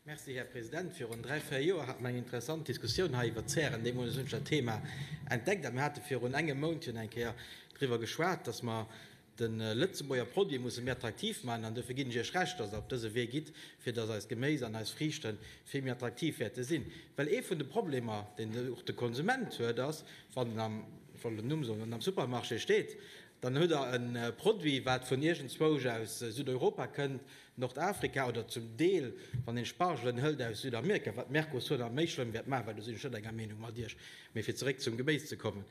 Merci, Här President. Virun dräi, véier Joer hat mer eng interessant Diskussioun hei iwwert d'Zären, deemools hunn ech dat Thema entdeckt, a mir hate virun engem Mount jo nach eng Kéier driwwer geschwat, dass mer de Lëtzebuerger Produit musse méi attraktiv maachen. An dofir ginn ech Iech Recht, dass Der op dëse Wee gitt, fir dass eist Geméis an eis Friichte vill méi attraktiv wäerte sinn. Well ee vun de Problemer, deen och de Konsument huet, ass, wann en am, ech wollt den Numm soen, wann en am Supermarché steet, dann huet er e Produit, wat vun iergendzwousch aus Südeuropa kënnt, Nordafrika oder zum Deel, wann een Spargelen hëlt aus Südamerika, wat d'Mercosur nach méi schlëmm wäert maachen, well do sinn ech net enger Meenung mat Iech, mee fir zeréck zum Gebéis ze kommen,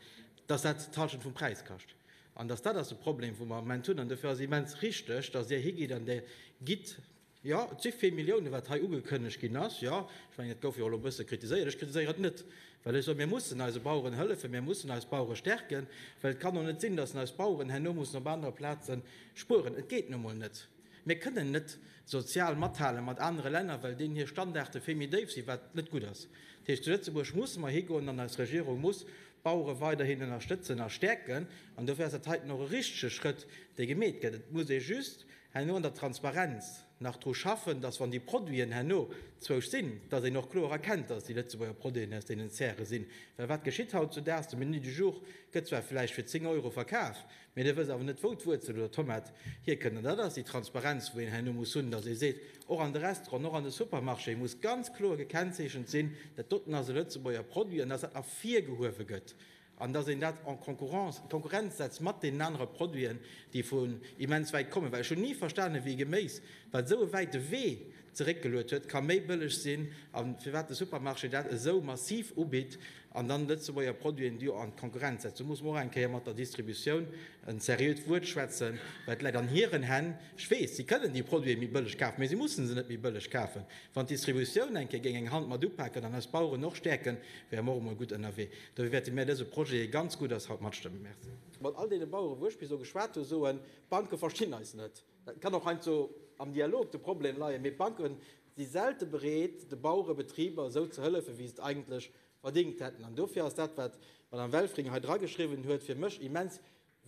dass dat d'Hallschent vum Präis kascht an dass dat ass de Problem, wou mer am Moment hunn. An dofir ass immens richtig, dass Dir higitt an Dir gitt, jo, et si vill Milliounen, wat hei ugekënnegt ginn ass, jo, ech mengen, et gouf jo och elo e bësse kritiséiert, ech kritiséieren et net, well ech soen, mir mussen eise Baueren hëllefen, mir mussen eis Bauere stärken, well et kann och net sinn, dass eis Baueren herno mussen op anere Plaze spueren. Et geet nu emol net. Mir kënnen net sozial mathale mat anere Länner, well deenen hir Standarde vill méi déif sinn, wat net gutt ass. Dat heescht, zu Lëtzebuerg musse mer higoen an eis Regierung muss d'Bauere weiderhin ënnerstëtzen a stäerken. An dofir ass dat heiten och e richtege Schrëtt, dee gemeet gëtt. Et muss ee just herno an der Transparenz nach dru schaffen, datt, wann déi Produiten herno zwousch sinn, datt een och kloer erkennt, datt et déi Lëtzebuerger Produiten aus deenen Zäre sinn. Well wat geschitt hautzudaags? De Menu du jour gëtt zwar vläicht fir 10 Euro verkaf, Mee dir wësst awer net, wou d'Wuerzel oder d'Tomat hierkënnt. An dat ass déi Transparenz, wou een herno muss hunn, datt ee seet, och an de Restauranten, och an de Supermarchéë muss ganz kloer gekennzeechent sinn, dat doten ass e Lëtzebuerger Produit an datt dat ervirgehuewe gëtt an datt een dat en concurrence, Konkurrenz setzt mat deenen anere Produiten, déi vun immens wäit kommen. Well ech hunn ni verstanen, wéi Geméis, wat esou e wäite Wee zeréckgeluet huet, ka méi bëlleg sinn a firwat de Supermarché dat esou massiv ubitt an dann Lëtzebuerger Produiten do an d'Konkurrenz setzt. Do muss mer och eng Kéier mat der Distributioun en seriöt Wuert schwätzen, well et läit an hiren Hänn. Ech weess, si kënnen déi Produite méi bëlleg kafen, mä si mussen se net méi bëlleg kafen. Wann d'Distributioun eng Kéier géing eng Hand mat upaken an eis Baueren och stäerken, wäre mer och emol gutt ënnerwee. Dofir wäerte mär dëse Projet, dee ganz gutt ass, haut matstëmmen. Merci. Mat all deene Baueren, wou ech bis elo geschwat hu, soen, D'Banke verstinn eis net. Et kann och heiansdo am Dialog de Problem leien, mee d'Banke si selte bereet, de Bauere Betriber esou ze hëllefen, wéi se et eigentlech verdingt hätten. An dofir ass dat, wat d'Madame Welfring hei drageschriwwen huet, fir mech immens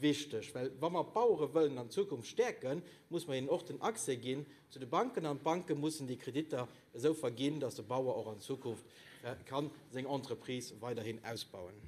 wichteg. Well wa mer d'Bauere wëllen an Zukunft stäerken, muss mer hinnen och den Accès ginn zu de Banken an d'Banke mussen déi Kreditter esou verginn, dass de Bauer och an Zukunft ka seng Entreprise weiderhin ausbauen.